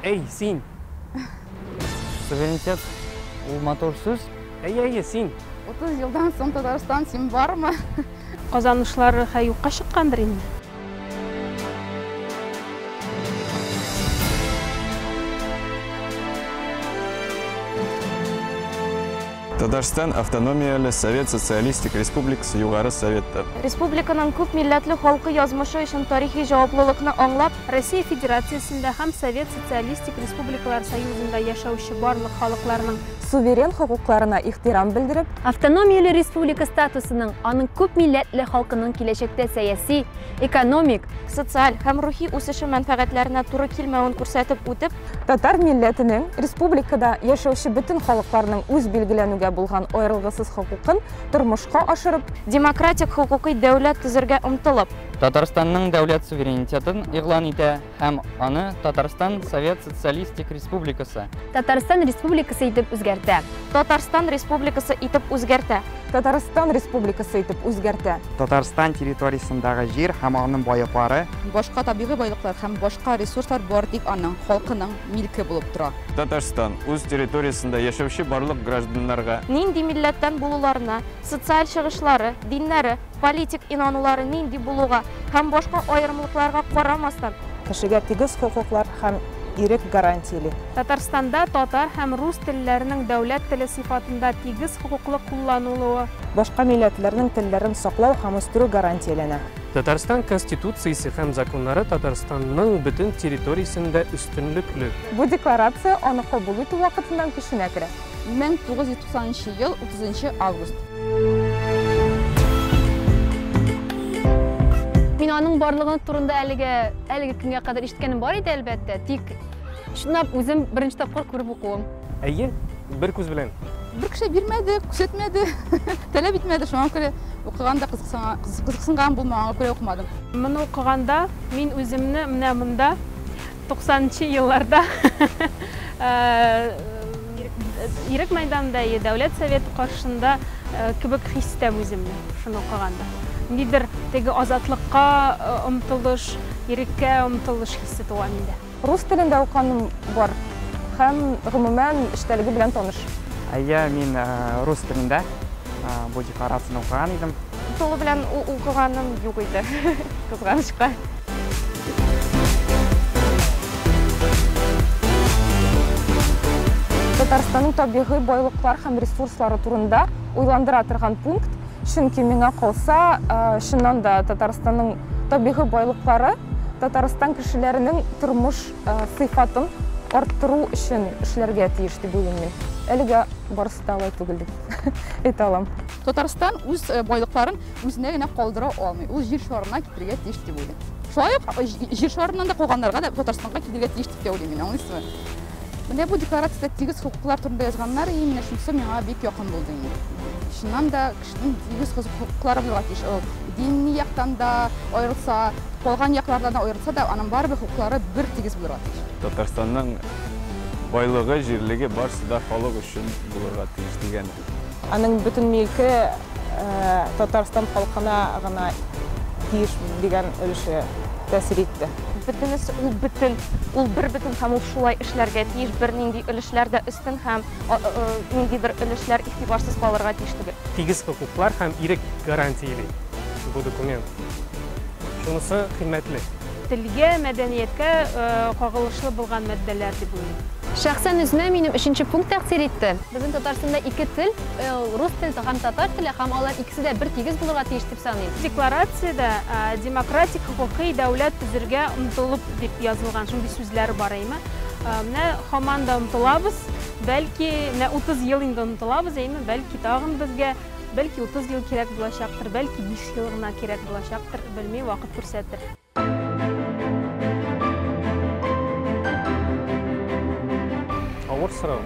Әй, син! Суверенитет, ул матур сүз. Әй, әй, син! 30 елдан соң Татарстан син бармы? Казанышлар хә юкка чыккандыр инде. Татарстан автономияле Совет Социалистик Республикасы Югары Советы. Республиканың күп милләтле халкы язмышы өчен тарихи җаваплылыкны аңлап, Россия Федерациясендә һәм Совет Социалистик Республикалар Союзында яшәүче барлык халыкларның суверен хокукларына ихтирам белдереп, Автономияле республика статусының аның күп милләтле халкының киләчәктә сәяси, экономик, социаль һәм рухи үсеше мәнфәгатьләренә туры килмәвен күрсәтеп үтеп, татар милләтенең республикада яшәүче бөтен халыкларның үз билгеләнүгә булган аерылгысыз хокукын тормышка ашырып, демократик хокукый дәүләт төзергә омтылып, Татарстанның дәүләт суверенитетын игълан итә һәм аны Татарстан Совет Социалистик Республикасы. Татарстан Республикасы итеп үзгәртә. Татарстан Республикасы итеп үзгәртә. Татарстан Республикасы итеп үзгәртә. Татарстан территориясендәге җир һәм аның байлыклары. Башка табигый байлыклар һәм башка ресурслар бар, тик аның, халкының, милке булып тора. Татарстан үз территориясендә яшәүче барлык гражданнарга. Нинди милләттән булуларына, социаль чыгышлары, диннәре. политик инанулары нинди булуга һәм башка аерымлыкларга карамастан, Кешегә тигез хокуклар һәм ирек гарантийли. Татарстанда татар һәм рус телләренең дәүләт теле сыйфатында тигез хокуклы кулланылуы. Башка милләтләрнең телләрен саклау һәм үстерү гарантияләнә. Татарстан Конституциясе һәм законнары Татарстанның бөтен территориясендә өстенлекле. Бу Декларация аны кабул итү вакытыннан көченә керә. 1990 ел 30 август. Мин аның барлыгы турында әлегә әлеге көнгә кадәр ишеткәнем бар иде, әлбәттә, тик шунлап үзем беренче тапкыр күреп укуым. Әйе, бер күз белән. Бер кеше бирмәде, күрсәтмәде, таләп итмәде, шуңа күрә укыганда кызыксынган булмаганга күрә укымадым. Моны укыганда мин үземне менә монда 90нчы елларда Ирек мәйданында, Дәүләт Советы каршында кебек хис итәм үземне, шуны укыганда. Нидер теге азатлыкка омтылыш, иреккә омтылыш хисе туа миндә. Рус телендә укыганым бар һәм, гомумән, эчтәлеге белән таныш. Әйе, мин рус телендә бу декларацияне укыган идем. Тулы белән укыганым юк иде, кызганычка. Татарстанның табигый байлыклар һәм ресурслары турында уйландыра торган пункт, чөнки миңа калса, чыннан да Татарстанның табигый байлыклары Татарстан кешеләренең тормыш сыйфатын арттыру өчен эшләргә тиеш дип уйлыйм мин. Әлегә барысы да алай түгел дип әйтә алам. Татарстан үз байлыкларын үзенә генә калдыра алмый. Ул җир шарына китерергә тиеш дип уйлыйм. Шулай ук җир шарыннан да калганнарга да Татарстанга китерергә тиеш дип тә уйлыйм мин, аңлыйсызмы? Менә бу декларациядә тигез хокуклар турында язганнар, и менә шунысы миңа бик якын булды инде. Чыннан да кешенең тигез хокуклары булырга тиеш. Ул дини яктан да аерылса, калган яклардан да аерылса да, аның барыбер хокуклары бер тигез булырга тиеш. Татарстанның байлыгы, җирлеге барысы да халык өчен булырга тиеш дигән Аның бөтен милке Татарстан халкына гына тиеш дигән өлеше тәэсир итте. Бөтенесе ул бөтен, ул бербөтен һәм ул шулай эшләргә тиеш, бернинди өлешләр дә өстен һәм нинди бер өлешләр игътибарсыз калырга тиеш түгел. Тигез хокуклар һәм ирек гарантияли бу документ. Шунысы кыйммәтле. Телгә, мәдәнияткә кагылышлы булган маддәләр дип уйлыйм. Шәхсән үземә минем өченче пункт тәэсир итте. Безнең Татарстанда ике тел, ул рус теле һәм татар теле һәм алар икесе дә бер тигез булырга тиеш дип саныйм. Декларациядә демократик хокукый дәүләт төзергә омтылып дип язылган шундый сүзләр бар әйме? Менә һаман да омтылабыз, бәлки менә 30 ел инде омтылабыз әйме, бәлки тагын безгә Бәлки 30 ел кирәк булачактыр, бәлки 5 ел гына кирәк булачактыр, белми, вакыт күрсәтер. Авыр сорау.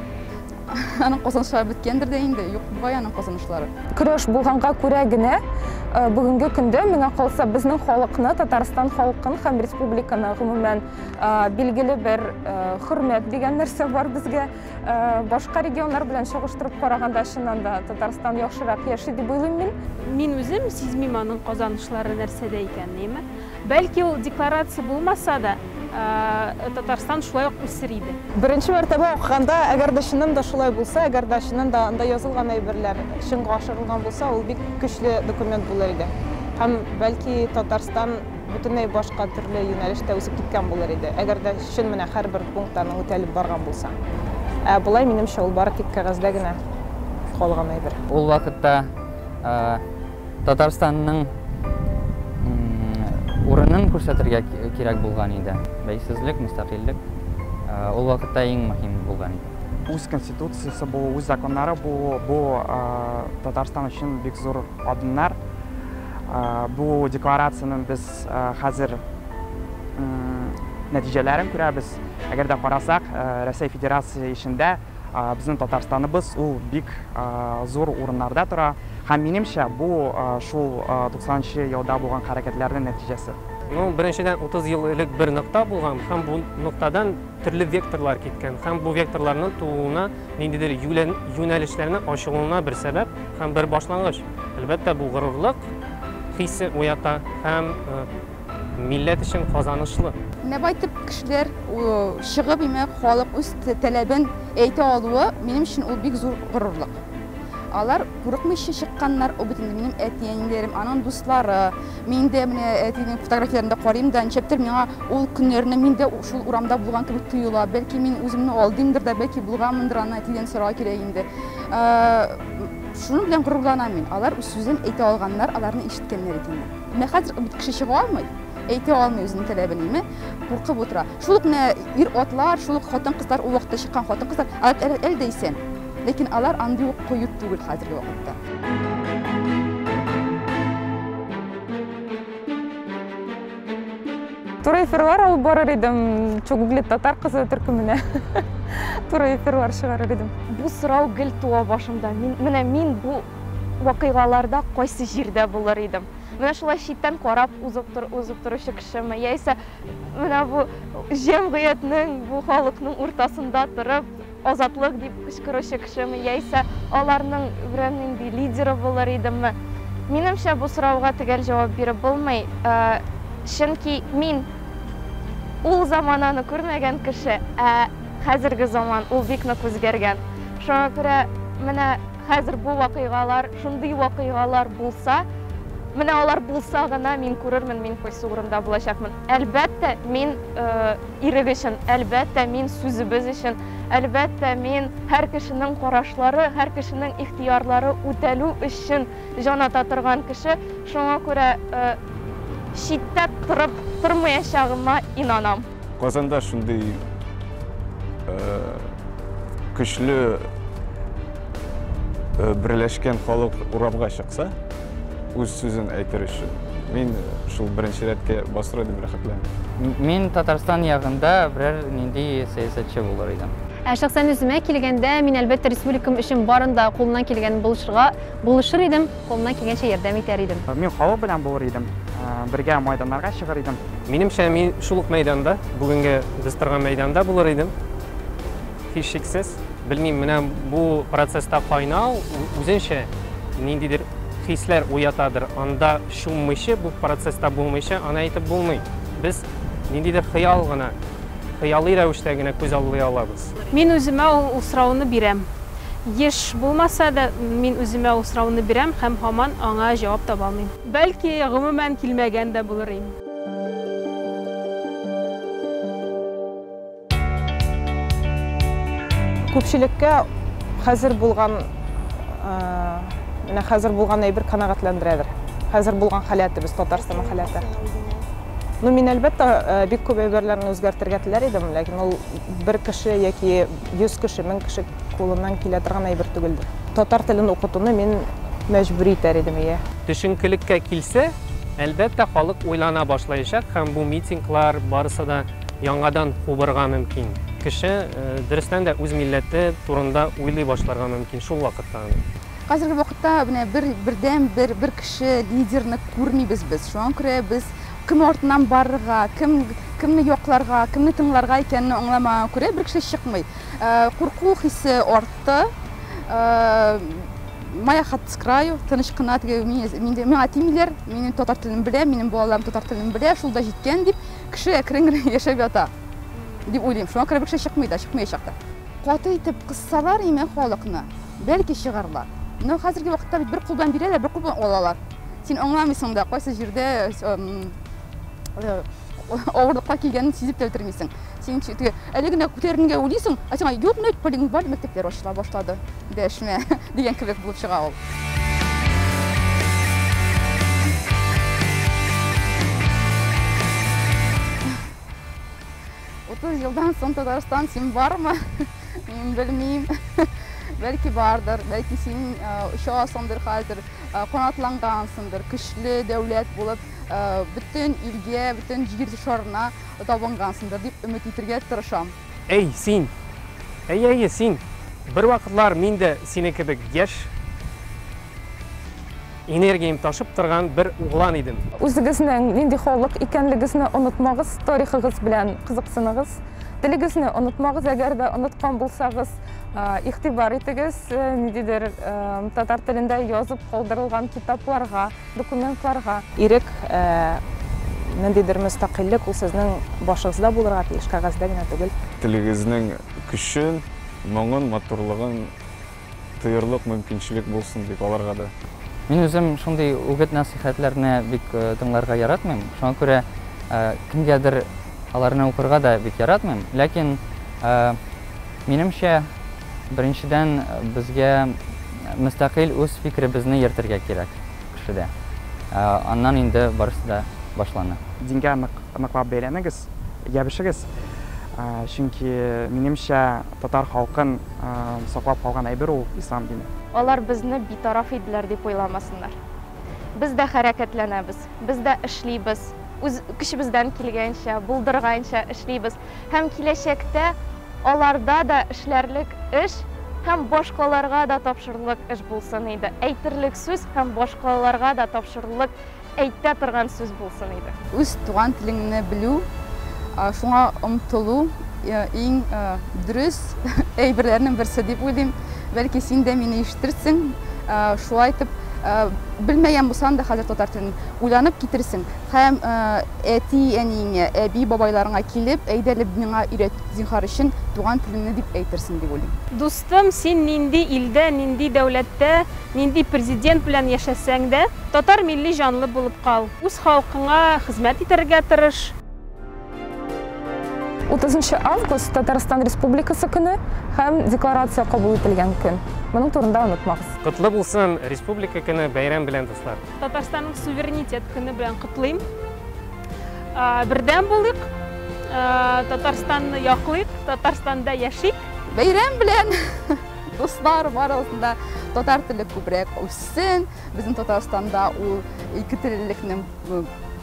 Аның казанышлары беткәндер дә инде, юк бугай аның казанышлары. Көрәш булганга күрә генә э, бүгенге көндә миңа калса безнең халыкны, Татарстан халкын һәм республиканы гомумән э, билгеле бер э, хөрмәт дигән нәрсә бар безгә. Э, башка регионнар белән чагыштырып караганда чыннан да татарстан яхшырак яши дип уйлыйм мин мин үзем сизмим аның казанышлары нәрсәдә икәнен бәлки ул декларация булмаса да э, татарстан шулай ук үсер иде беренче мәртәбә укыганда әгәр дә чыннан да шулай булса әгәр дә чыннан да анда язылган әйберләр чынга ашырылган булса ул бик көчле документ булыр иде һәм бәлки татарстан бөтенләй башка төрле юнәлештә үсеп киткән булыр иде, әгәр дә чын менә һәрбер пункт аның үтәлеп барган булса. Ә болай, минемчә, ул бары тик кәгазьдә генә калган әйбер. Ул вакытта Татарстанның урынын күрсәтергә кирәк булган иде. Бәйсезлек, мөстәкыйльлек ул вакытта иң мөһим булган иде. Үз Конституциясе булу, үз законнары булу, бу Татарстан өчен бик зур адымнар. Бу декларациянең без хәзер нәтиҗәләрен күрәбез. Әгәр дә карасак, Рәсәй Федерация эчендә безнең Татарстаныбыз ул бик зур урыннарда тора. Һәм минемчә, бу шул 90 нчы елда булган хәрәкәтләрнең нәтиҗәсе. Ну, беренчедән, 30 ел элек бер нокта булган һәм бу ноктадан төрле векторлар киткән һәм бу векторларның тууына Ниндидер юнәлешләрнең ачылуына бер сәбәп һәм бер башлангыч. Әлбәттә, бу горурлык хисе уята һәм милләт өчен казанышлы. Менә байтып кешеләр чыгып, имәк, халык үз таләбен әйтә алуы, минем өчен ул бик зур горурлык. Алар курыкмыйча чыкканнар, ул бит инде минем әти-әниләрем, аның дуслары. Мин дә менә әтинең фотографияләрендә карыйм да, ничектер миңа ул көннәрне мин дә шул урамда булган кебек тоела. Бәлки мин үземне алдыймдыр да, бәлки булганмындыр, аны әтидән сорау кирәк инде. Шуның белән горурланам мин. Алар үз сүзен әйтә алганнар, аларны ишеткәннәр икән. Менә хәзер бит кеше чыга алмый, әйтә алмый үзенең таләбен, име? Куркып утыра. Шул ук менә ир-атлар, шул ук хатын-кызлар, ул вакытта чыккан хатын-кызлар, әле дә исән. Ләкин алар андый ук кыю түгел хәзерге вакытта. Туры эфирлар алып барыр идем, Чугугле татар кызы төркеменә. Туры эфирлар чыгарыр идем. Бу сорау гел туа башымда. Мин, менә мин бу вакыйгаларда кайсы җирдә булыр идем? Менә шулай читтән карап узып, тур, узып торучы кешеме? Яисә менә бу җәмгыятьнең, бу халыкның уртасында торып, Азатлык! дип кычкыручы кешеме яисә аларның берәр нинди лидеры булыр идемме? Минемчә, бу сорауга төгәл җавап биреп булмый, чөнки мин ул замананы күрмәгән кеше, ә хәзерге заман ул бик нык үзгәргән. Шуңа күрә менә хәзер бу вакыйгалар, шундый вакыйгалар булса, менә алар булса гына мин күрермен, мин кайсы урында булачакмын. Әлбәттә, мин Ирек өчен, әлбәттә, мин сүзебез өчен, әлбәттә, мин һәр кешенең карашлары, һәр кешенең ихтыярлары үтәлү өчен җан ата торган кеше, шуңа күрә читтә торып тормаячагыма инанам. Казанда шундый көчле берләшкән халык урамга чыкса, үз сүзен әйтер өчен. Мин шул беренче рәткә басыр идем рәхәтләнеп. Мин Татарстан ягында берәр нинди сәясәтче булыр идем. Ә шәхсән үземә килгәндә, мин әлбәттә республикам өчен барын да кулымнан килгәнен булышырга булышыр идем, кулымнан килгәнчә ярдәм итәр идем. Мин халык белән булыр идем, бергә майданнарга чыгыр идем. Минемчә, мин шул ук мәйданда, бүгенге без торган мәйданда булыр идем. Һичшиксез, белмим, менә бу процесста кайнау үзенчә ниндидер хисләр уятадыр. Анда чуммыйча, бу процесста булмыйча, аны әйтеп булмый. Без ниндидер хыял гына, хыялый рәвештә генә күз аллый алабыз. Мин үземә ул сорауны бирәм. Еш булмаса да, мин үземә ул сорауны бирәм һәм һаман аңа җавап таба алмыйм. Бәлки, гомумән килмәгән дә булыр ин. Күпчелеккә хәзер булган менә хәзер булган әйбер канәгатьләндерәдер. Хәзер булган халәтебез, Татарстанның халәте. Ну, мин әлбәттә э, бик күп әйберләрне үзгәртергә теләр идем, ләкин ул бер кеше яки 100 кеше, 1000 кеше кулыннан килә торган әйбер түгелдер. Татар телен укытуны мин мәҗбүри итәр идем, ия. Төшенкелеккә килсә, әлбәттә халык уйлана башлаячак һәм бу митинглар барысы да яңадан кубырга мөмкин. Кеше, дөрестән дә, үз милләте турында уйлый башларга мөмкин шул вакытта гына. Хәзерге вакытта менә бер бердәм бер бер кеше лидерны күрмибез без. Шуңа күрә без кем артыннан барырга, кем кемне якларга, кемне тыңларга икәнне аңламаганга күрә бер кеше чыкмый. Курку хисе артты. Моя хата с краю, тыныч кына теге миңа тимиләр, минем татар телен беләм, минем балаларым татар телен белә, шул да җиткән дип, Кеше әкрен генә яшәп ята дип уйлыйм. Шуңа күрә бер кеше чыкмый да, чыкмаячак та. Каты итеп кыссалар име халыкны, бәлки чыгарлар. Менә хәзерге вакытта бит бер кул белән бирәләр, бер кул белән алалар. Син аңламыйсың да, кайсы җирдә авырлыкка килгәнен сизеп тә бетермисең. Син әле генә күтәренергә уйлыйсың, ә сиңа юк, менә полигон бар, мәктәпләр ачыла башлады. Дәшмә! дигән кебек булып чыга ул. Утыз елдан соң Татарстан син бармы? Мин белмим. Бәлки бардыр, бәлки син очасыңдыр хәзер, канатлангансыңдыр, көчле дәүләт булып, бөтен илгә, бөтен җир шарына табынгансыңдыр дип өмет итергә тырышам. Әй, син! Әйе-әйе, син! Бервакытлар мин дә синең кебек яшь, энергиям ташып торган бер углан идем. Үзегезнең нинди халык икәнлегезне онытмагыз, тарихыгыз белән кызыксыныгыз. Телегезне онытмагыз, әгәр дә оныткан булсагыз, игътибар итегез ниндидер татар телендә язып калдырылган китапларга. документларга. Ирек, ниндидер мөстәкыйльлек, ул сезнең башыгызда булырга тиеш, кәгазьдә генә түгел. Телегезнең көчен, моңын, матурлыгын тоерлык мөмкинчелек булсын бит аларга да. Мин үзем шундый үгет-нәсыйхәтләрне бик тыңларга яратмыйм. Шуңа күрә кемгәдер аларны укырга да бик яратмыйм. Ләкин, минемчә, Беренчедән, безгә мөстәкыйль үз фикеребезне йөртергә кирәк кешедә. Аннан инде барысы да башлана. Дингә нык, ныклап бәйләнегез, ябешегез. Чөнки, минемчә, татар халкын саклап калган әйбер ул, ислам дине. Алар безне битараф иделәр дип уйламасыннар. Без дә хәрәкәтләнәбез, без дә эшлибез, үз көчебездән килгәнчә, булдырганча эшлибез. һәм киләчәктә аларда да эшләрлек эш һәм башкаларга да тапшырырлык эш булсын иде, әйтерлек сүз һәм башкаларга да тапшырырлык әйтә торган сүз булсын иде. Үз туган телеңне белү, шуңа омтылу иң дөрес әйберләрнең берсе дип уйлыйм. Бәлки син дә мине ишетерсең, шулай итеп, белмәгән булсаң да хәзер татар телен уйланып китерсең. Һәм әти-әниеңә, әби-бабайларыңа килеп, әйдәлеп миңа өйрәт, зинһар өчен, туган телеңне, дип әйтерсең, дип уйлыйм. Дустым, син нинди илдә, нинди дәүләттә, нинди президент белән яшәсәң дә, татар милли җанлы булып кал. Үз халкыңа хезмәт итәргә тырыш. Утызынчы август, Татарстан Республикасы көне һәм Декларация кабул ителгән көн. Моның турында онытмагыз. Котлы булсын Республика көне бәйрәм белән дуслар! Татарстанның суверенитет көне белән котлыйм. Бердәм булыйк, Татарстанны яклыйк, Татарстанда яшик. Бәйрәм белән дуслар барыгызны да татар теле күбрәк үссен. Безнең Татарстанда ул ике теллелекнең